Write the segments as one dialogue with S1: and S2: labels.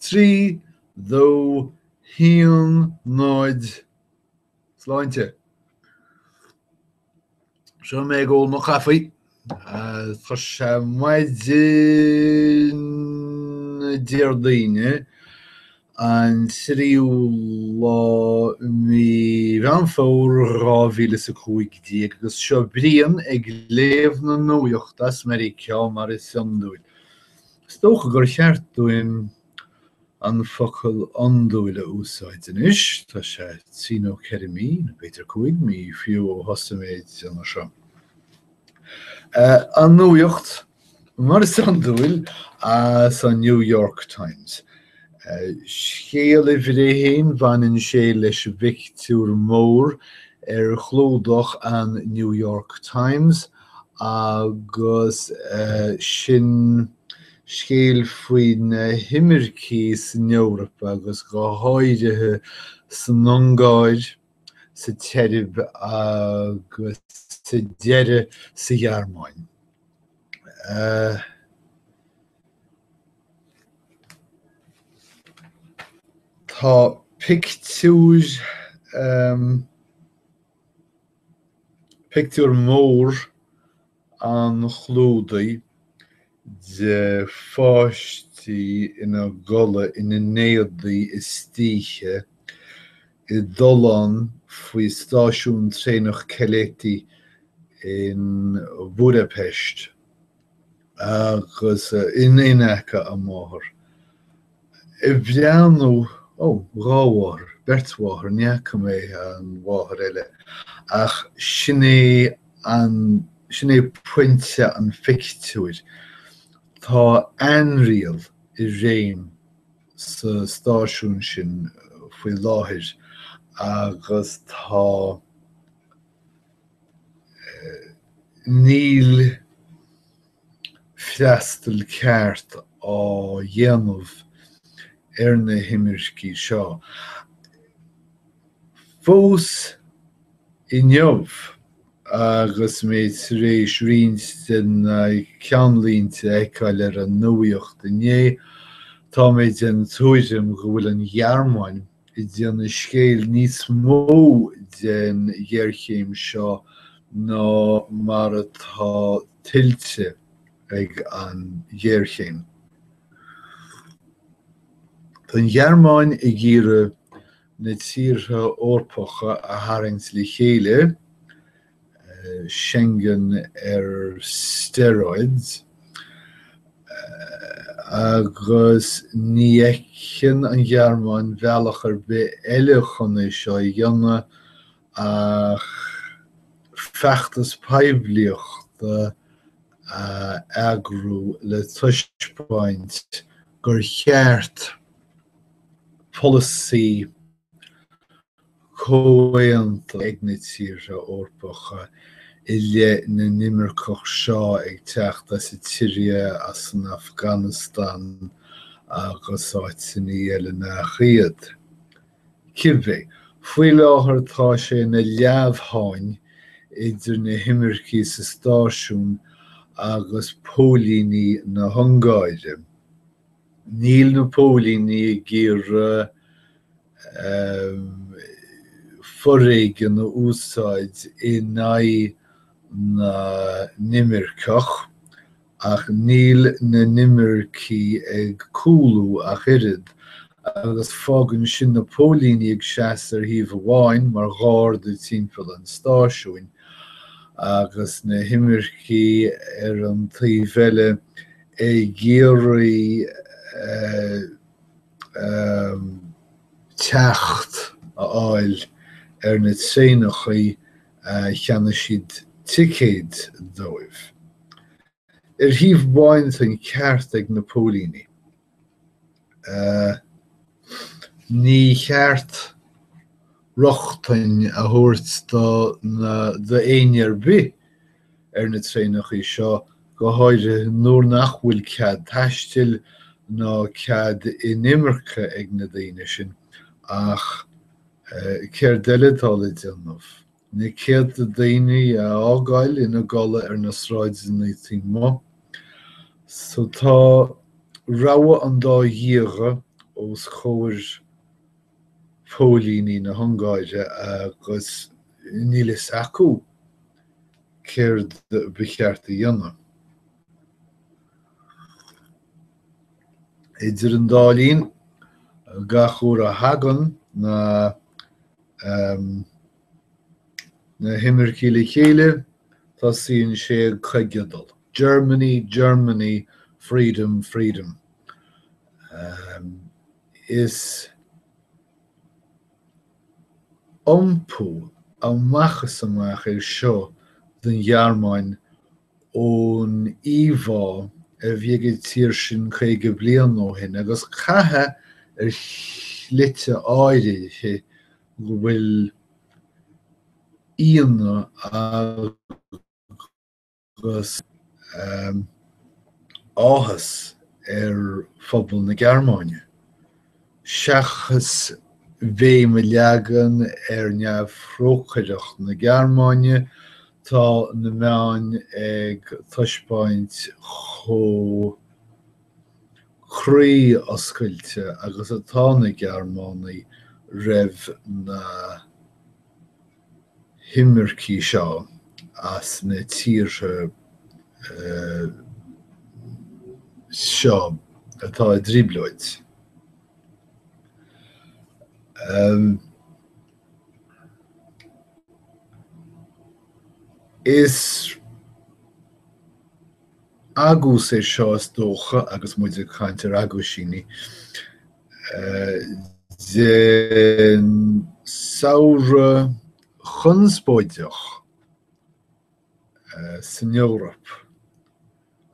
S1: 3, 2, 1, 0 Sláinte! Seo mé ag ól mo chaife. Tá sé maidin Déardaoine an tríú lá mí Mheán Fómhair 2015 agus seo Brian ag léamh na nuaíocht as Meiriceá mar is iondúil. Is dócha gur cheart dúinn an focal iondúil a úsáid anois, tá sé trí nó ceithre mí, nó b'fhéidir cúig mí, fiú, ó thosaigh mé ag déanamh seo. An nuaíocht, mar is iondúil, as an New York Times. Scéal uimhir a haon, baineann sé leis an bpictiúr mór ar chlúdach an New York Times, agus sin scéal faoi na himircigh san Eoraip agus go háirithe san Ungáir sa tSeirb agus sa deireadh sa Ghearmáin. Tá pictiúr. Pictiúr mór an chlúdaigh de pháistí ina gcodladh ina n-éadaí istoíche i dtollán faoi stáisiún traenach Keleti in Budapest. agus ina n-aice a máthair, ag breathnú, ó, dhá mháthair, beirt mháthair, ní fhaca mé an mháthair eile, ach sin é an, sin é pointe an phictiúir, tá ainriail i réim sa stáisiún sin faoi láthair agus tá, Níl freastal ceart á dhéanamh ar na himircigh seo. Fós inniu, agus mé tar éis roinnt de na ceannlínte a fheiceáil ar an nuaíocht inné, tá mé den tuairim go bhfuil an Ghearmáin, ag déanamh scéal níos mó den ghéarchéim seo ná mar atá tuillte ag an ngéarchéim. Tá an Ghearmáin ag iarraidh na tíortha Eorpacha a tharraingt le chéile Schengen ar steroids, agus ní fheiceann an Ghearmáin bealach ar bith eile chun é seo a dhéanamh ach feachtas poiblíochta a eagrú le taispeáint gur cheart polasaí comhaontaithe ag na tíortha Eorpacha i leith na n-imirceach seo ag teacht as an tSiria, as an Afganastáin agus áiteanna eile nach iad. Cibé, faoi láthair tá sé ina leamhsháinn idir na himircigh sa stáisiún agus póilíní na hUngáire. Níl na póilíní ag iarraidh foréigean a úsáid in aghaidh na n-imirceach, ach níl na himircigh ag cúlú ach oiread, agus fágann sin na póilíní ag seasamh ar thaobh amháin mar gharda timpeall an stáisiúin, agus na himircigh ar an taobh eile ag iarraidh teacht a fháil ar na traenachaí a cheannaigh siad ticéid dóibh. Ar thaobh amháin tá an ceart ag na póilíní. Ní cheart rochtain a thabhairt d'éinne ar bith ar na traenachaí seo, go háirithe nuair nach bhfuil cead taistil ná cead inimirce ag na daoine sin, ach céard eile atá le déanamh? Na céadta daoine a fhágáil ina gcodladh ar na sráideanna taobh amuigh. So tá rogha an dá dhíogha os chomhair phóilíní na hUngáire agus níl fhios acu céard ba cheart a dhéanamh. Idir an dá linn, gach uair a thagann na um na himircigh le chéile, tosaíonn sé ag coigeadal, Germany, Germany, freedom, freedom. Um is iompú amach is amach é seo don Ghearmáin ón íomhá a bhí ag an tír sin 50 bliain ó shin, agus caithfidh ar shlite áirithe go bhfuil ionadh agus áthas ar phobal na Gearmáine. Seachas béim a leagan ar neamhthrócaireacht na Gearmáine, tá na meáin ag taispeáint chomh croíoscailte agus atá na Gearmánaí roimh na. himircigh seo as na tíortha seo atá i dtrioblóid. Is agús é seo, is dócha, agus muid ag caint ar aguisíní, den samhradh conspóideach san Eoraip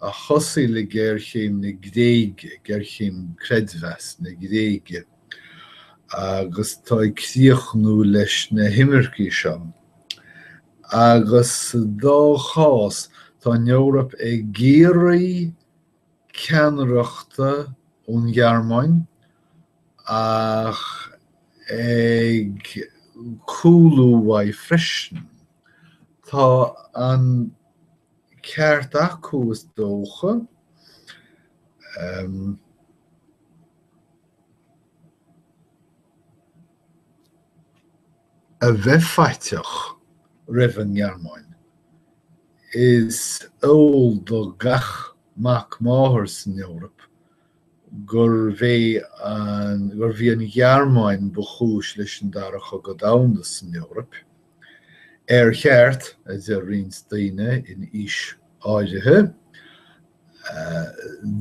S1: a thosaigh le géarchéim na Gréige, géarchéim creidmheasa na Gréige, agus atá ag críochnú leis na himircigh seo. Agus sa dá chás, tá an Eoraip ag iarraidh ceannaireachta ón Ghearmáin ach ag cúlú uaidh freisin. Tá an ceart acu is dócha. a bheith faiteach roimh an Ghearmáin. Is eol do gach mac máthar san Eoraip gurbh é an, gurbh í an Ghearmáin ba chúis leis an Dara Cogadh Domhanda san Eoraip. Ar cheart, a deir roinnt daoine in aois áirithe,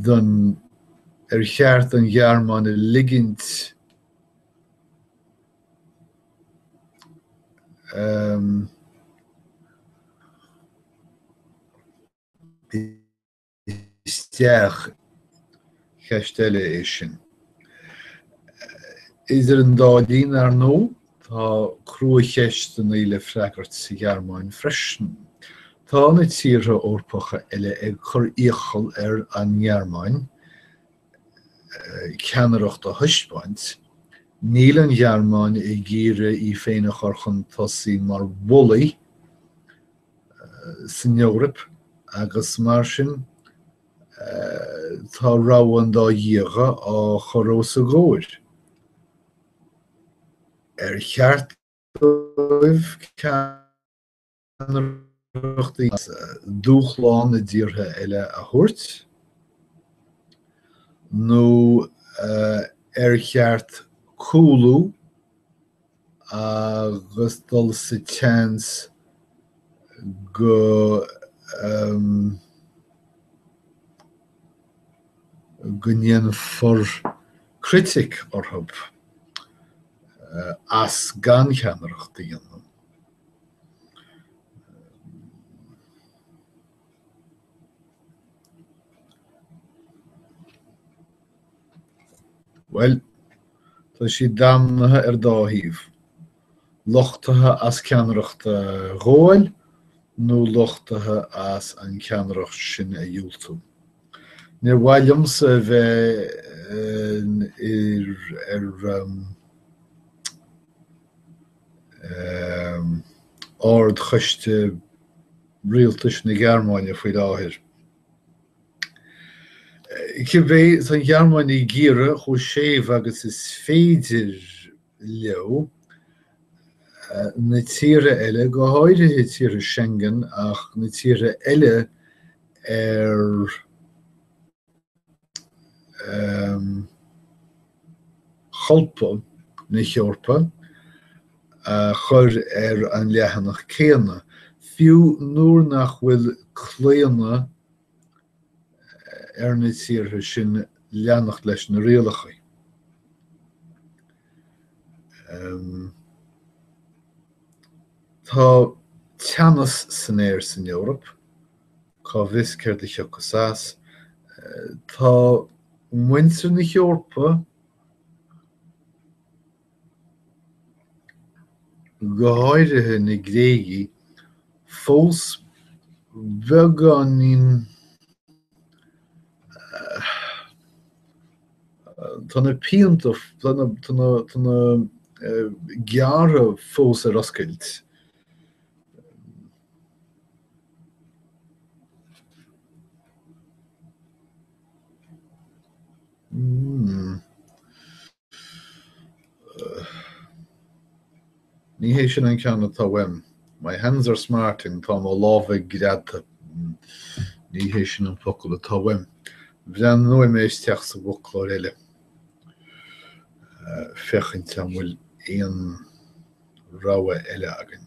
S1: don, ar cheart an Ghearmáin a ligint, isteach. Ceist eile é sin. Idir an dá linn, ar ndóigh, tá cruacheisteanna le freagairt sa Ghearmáin freisin. Tá na tíortha Eorpacha eile ag cur iachall ar an nGearmáin ceannaireacht a thaispeáint, níl an Ghearmáin ag iarraidh í féin a chur chun tosaigh mar bhullaí san Eoraip agus mar sin tá rogha an dá dhíogha á chur os a gcomhair. Ar cheart dóibh ceannaireacht? ceannaireacht agus dúshlán na dtíortha eile a thabhairt, nó ar cheart cúlú agus dul sa tseans go ndéanfar critic orthu as gan ceannaireacht a dhéanamh? Bhuel, tá siad damnaithe ar dhá thaobh, lochtaithe as ceannaireacht a ghabháil nó lochtaithe as an ceannaireacht sin a dhiúltú. Níor mhaith liomsa a bheith ar. Ard-Choiste Rialtais na Gearmáine faoi láthair. Cibé, tá an Ghearmáin ag iarraidh, chomh séimh agus is féidir leo, na tíortha eile, go háirithe tíortha Schengen ach na tíortha eile ar cholbha na hEorpa a chur ar an leathanach céanna, fiú nuair nach bhfuil claonadh ar na tíortha sin leanacht leis na rialacha. Tá teannas san aer san Eoraip. Cá bhfios céard a thiocfas as? Tá muintir na hEorpa go háirithe na Gréigigh fós beagáinín tá na pianta tá na tá na gearrtha fós ar oscailt. Ní hé sin an ceann atá uaim. My hands are smarting, tá mo lámha greadta. Ní hé sin an focal atá uaim. Breathnóidh mé isteach sa bhfoclóir eile, féachaint an bhfuil aon rogha eile againn.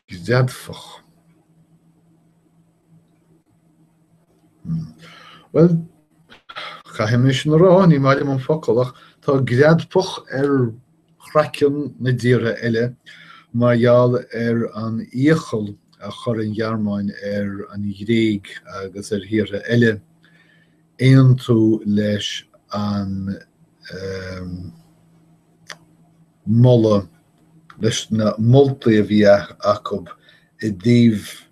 S1: Greadfach. Bhuel, caithfidh mé sin a rá, ní maith liom an focal ach tá greadfach ar chraiceann na dtíortha eile mar gheall ar an iachall a chuir an Ghearmáin ar an Ghréig agus ar thíortha eile aontú leis an moladh, leis na moltaí a bhí acu i dtaobh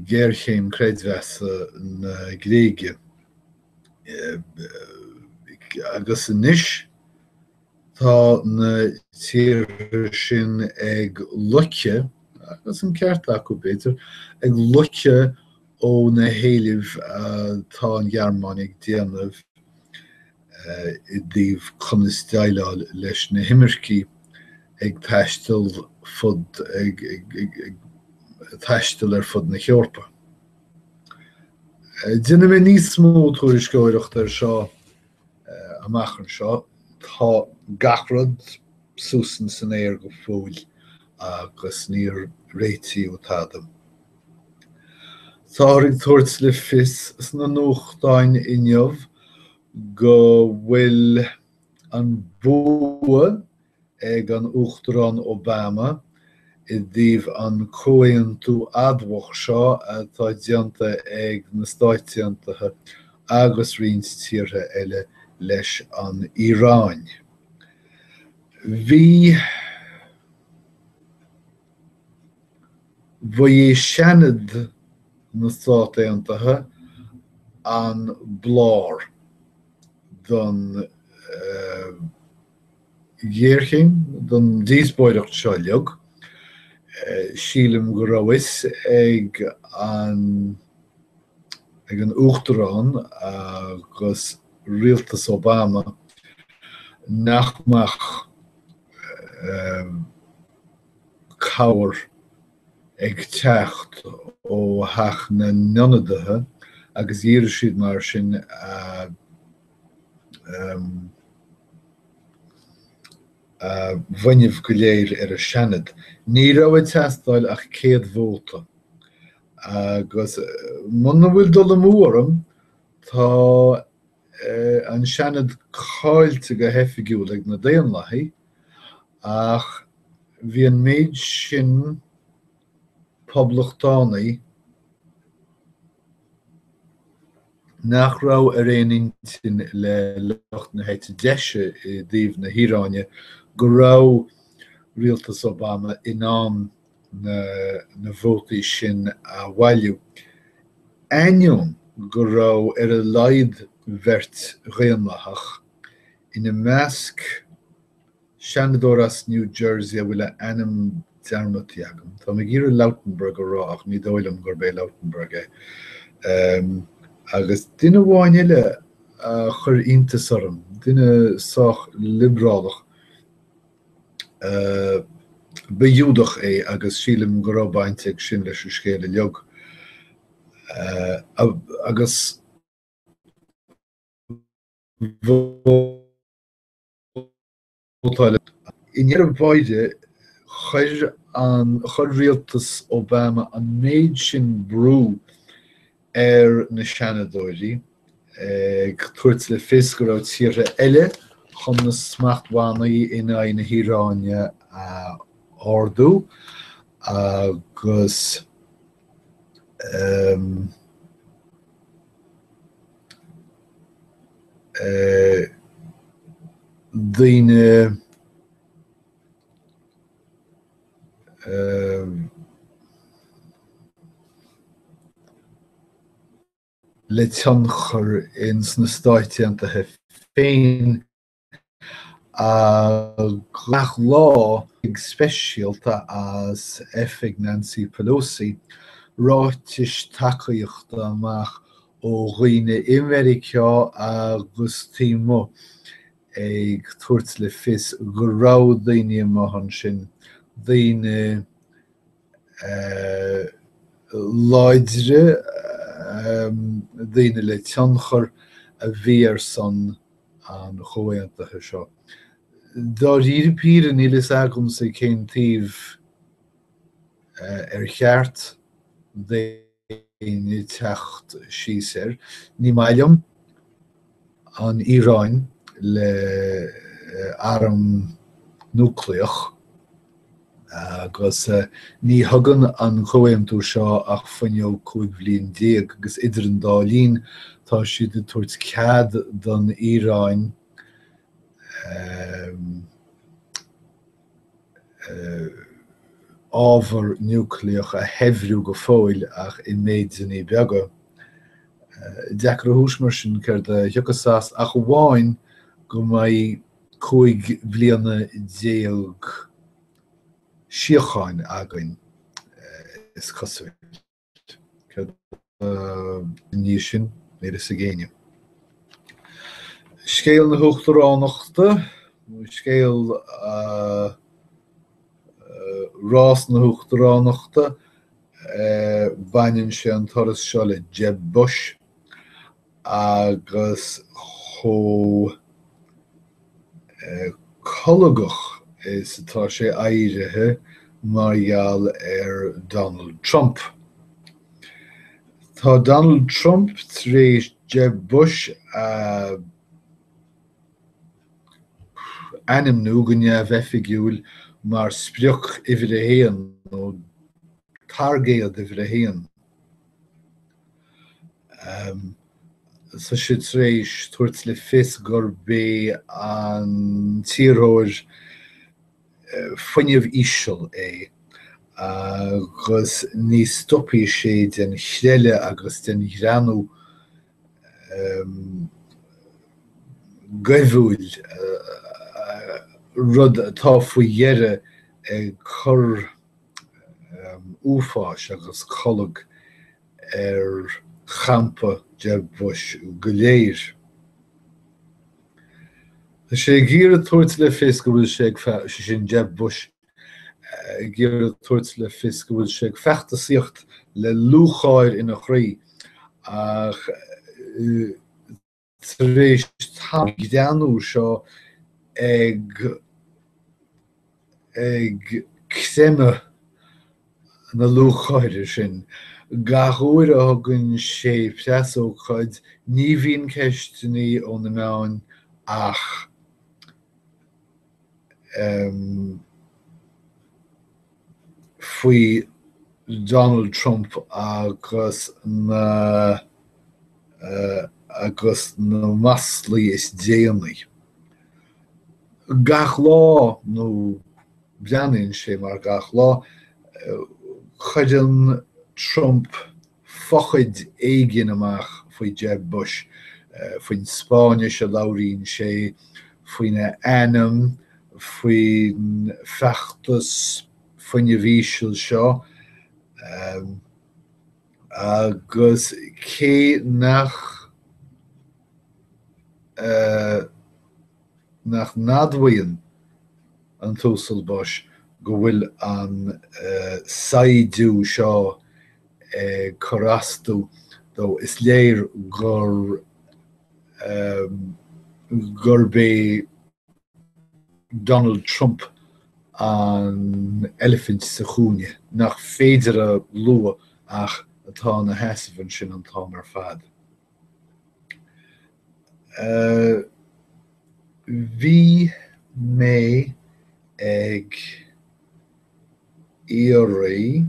S1: ghéarchéim creidmheasa na Gréige agus anois, Tá na tíortha sin ag loiceadh, agus an ceart acu, b'fhéidir, ag loiceadh ó na héilimh atá an Ghearmáin ag déanamh i dtaobh conas déileáil leis na himircigh ag taisteal fud, ag taisteal ar fud na hEorpa. Déanfaidh mé níos mó tuairisceoireachta ar seo Amach anseo, tá gach rud suas ins an aer go fóill agus níor réitíodh tada. Táthar ag tabhairt le fios sna nuachtáin inniu go bhfuil an bua ag an Uachtarán Obama i dtaobh an comhaontú adamhach seo atá déanta ag na Stáit Aontaithe agus roinnt tíortha eile leis an Iaráin. Bhí bhí Seanad na Stát Aontaithe an blár don ghéarchéim don díospóireacht seo uilig. Sílim go raibh a fhios ag an ag an Uachtarán agus rialtas Obama nach mbeadh cabhair ag teacht ó Theach na nIonadaithe agus dhírigh siad mar sin a a bhfuinneamh go léir ar an Seanad. Ní raibh ag teastáil ach 100 vóta agus muna bhfuil dul amú orm, tá an Seanad caillte go hoifigiúil ag na Daonlathaigh ach bhí an méid sin, Poblachtánaigh nach raibh ar aon intinn le lucht na heite deise i dtaobh na hIaráine go raibh rialtas Obama in ann na vótaí sin a bhailiú, ainneoin go raibh ar a laghad beirt Dhaonlathach, ina measc, Seanadóir as New Jersey a bhfuil a ainm dearmadta agam, tá mé ag iarraidh Lautenberg a rá ach ní dóigh liom gurb é Lautenberg é, agus duine amháin eile a chuir iontas orm, duine sách liobrálach, ba Ghiúdach é agus sílim go raibh baint ag sin leis an scéal uilig, agus I ndeireadh báire, chuir an, chuir rialtas Obama an méid sin brú ar na Seanadóirí, ag tabhairt le fios go raibh tíortha eile chun na smachtbhannaí in aghaidh na hIaráine a ardú, agus, daoine le tionchar ins na Stáit Aontaithe féin Gach lá go speisialta as oifig Nancy Pelosi, ráitis tacaíochta amach ó dhaoine i Meiriceá agus taobh amuigh ag tabhairt le fios go raibh daoine amach ansin, daoine láidre, daoine le tionchar, a bhí ar son an Chomhaontaithe seo. Dáiríre píre níl a fhios agamsa cén taobh ar cheart d'éinne teacht síos air. Ní maith liom an Iaráin le arm núicléach agus ní thugann an comhaontú seo ach fuinneog cúig bhliain déag, agus idir an dá linn tá siad ag tabhairt cead don Iaráin ábhar núicléach a shaibhriú go fóill ach i méideanna beaga. Deacair a thomhas mar sin céard a thiocfas as ach amháin go mbeidh. cúig bhliana déag síocháin againn, is cosúil. Céard ina dhiaidh sin? Níl fhios ag éinne. Scéal na hUachtaránachta, nó scéal rás na hUachtaránachta, baineann sé an turas seo le Jeb Bush agus chomh colgach is atá sé éirithe mar gheall ar Donald Trump. Tá Donald Trump tar éis Jeb Bush a ainmniú go neamhoifigiúil mar sprioc uimhir a haon, nó targaid uimhir a haon, Tá sé tar éis tabhairt le fios gurb é an t-iarrthóir fuinnimh íseal é agus ní stopfaidh sé den chreille agus den ghreannú goimhiúil, rud atá faoi dheireadh ag cur. uafáis agus colg ar champa Jeb Bush go léir. Tá sé ag iarraidh tabhairt le fios go bhfuil sé ag, sé sin Jeb Bush, ag iarraidh tabhairt le fios go bhfuil sé ag feachtasaíocht le lúcháir ina chroí, ach Tar éis tá an greannú seo ag ag creimeadh na lúcháire sin. Gach uair a thugann sé preasócáid ní bhíonn ceisteanna ó na meáin ach faoi Donald Trump agus na agus na maslaí is déanaí. Gach lá, nó breathnaíonn sé mar gach lá, cuireann Trump fochaid éigin amach faoi Jeb Bush, faoin Spáinnis a labhraíonn sé, faoina ainm, faoin feachtas fuinnimh ísil seo, agus cé nach nach n-admhaíonn an tUasal Bush go bhfuil an saighdiú seo ag cur as dó, is léir gur, gurb é Donald Trump an eilifint sa chúinne nach féidir a lua ach atá ina sheasamh ansin an t-am ar fad. Bhí mé ag iarraidh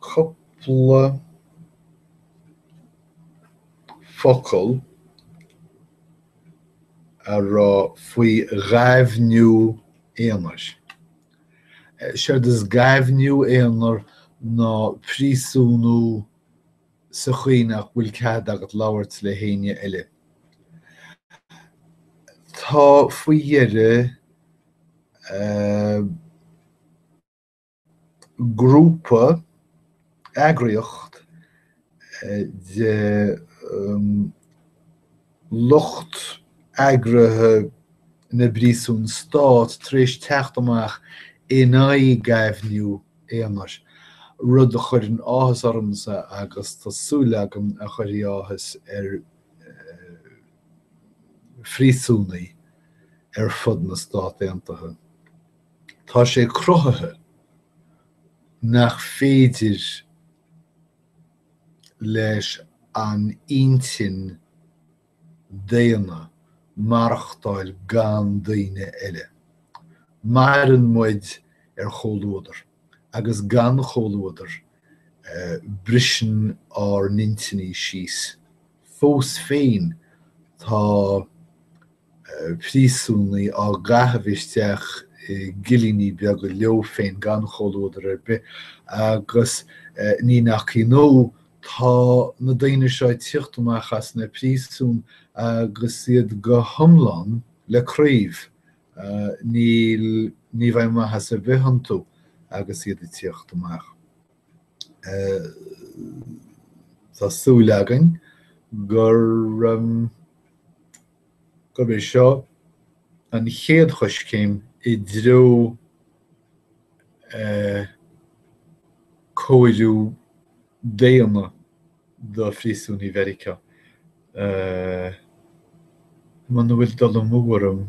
S1: cúpla focal a rá faoi ghaibhniú aonair. Séard is gaibhniú aonair ná príosúnú sa chaoi nach bhfuil cead agat labhairt le héinne eile. Tá faoi dheireadh grúpa, eagraíocht de lucht eagraithe na bpríosún stát tar éis teacht amach in aghaidh gaibhniú aonair, rud a chuireann áthas ormsa agus tá súil agam a chuirfidh áthas ar phríosúnaigh ar fud na Stát Aontaithe. Tá sé cruthaithe nach féidir leis an intinn daonna maireachtáil gan daoine eile. Maireann muid ar chomhluadar, agus gan chomhluadar, briseann ár n-intinní síos. Fós féin, tá príosúnaigh á gcaitheamh isteach i gcillíní beaga leo féin gan chomhluadar ar bith agus ní nach ionadh tá na daoine seo ag tíocht amach as na príosúin agus iad go hiomlán le craobh, ní bheidh maitheas ar bith iontu agus iad ag tíocht amach. Tá súil againn gurb í seo an chéad choiscéim i dtreo cóir níos daonna do phríosúnaigh Mheiriceá. Muna bhfuil dul amú orm,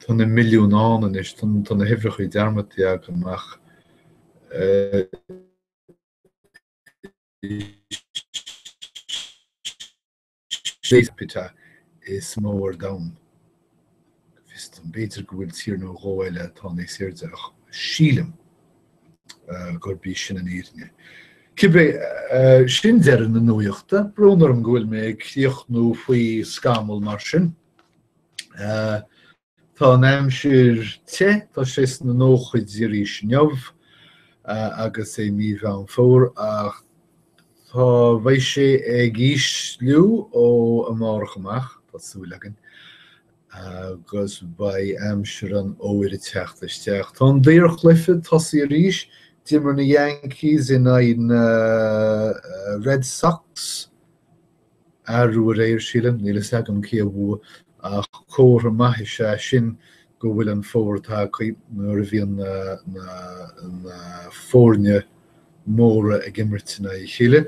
S1: tá na milliúin ann anois, tá na huimhreacha dearmadta agam, ach. capita is mó ar domhan, go bhfios dom, b'fhéidir go bhfuil tír nó dhó eile atá níos airde ach sílim gurb í sin an fhírinne. Cibé sin deireadh na nuaíochta, brón orm go bhfuil mé ag críochnú faoi scamall mar sin. Tá an aimsir te, tá sé sna nóchaidí arís inniu agus é mí Mheán Fómhair ach tá bheidh sé ag ísliú ó amárach amach, tá súil againn, agus beidh aimsir an fhómhair ag teacht isteach. Tá an daorchluiche tosnaithe arís, d'imir na Yankees in aghaidh na Red Sox, Arú aréir, sílim, níl fhios agam cé a bhua, ach comhartha maith is ea sin go bhfuil an fómhar tagtha, nuair a bhíonn na foirne móra ag imirt in aghaidh a chéile.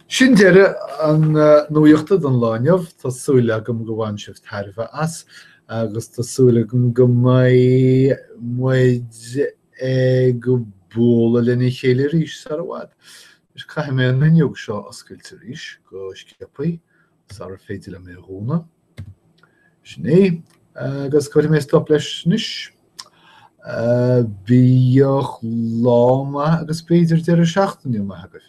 S1: Sin deireadh na nuaíochta don lá inniu, tá súil agam go bhain sibh tairbhe as, agus tá súil agam go mbeidh muid ag bualadh lena chéile arís sara bhfad. Anois caithfidh mé an fhuinneog seo a oscailt arís go sciopaí sara féidir liom é a dhúnadh. Sin é, agus cuirfidh mé stop leis anois. Bíodh lá maith agus b'fhéidir deireadh seachtaine maith agaibh.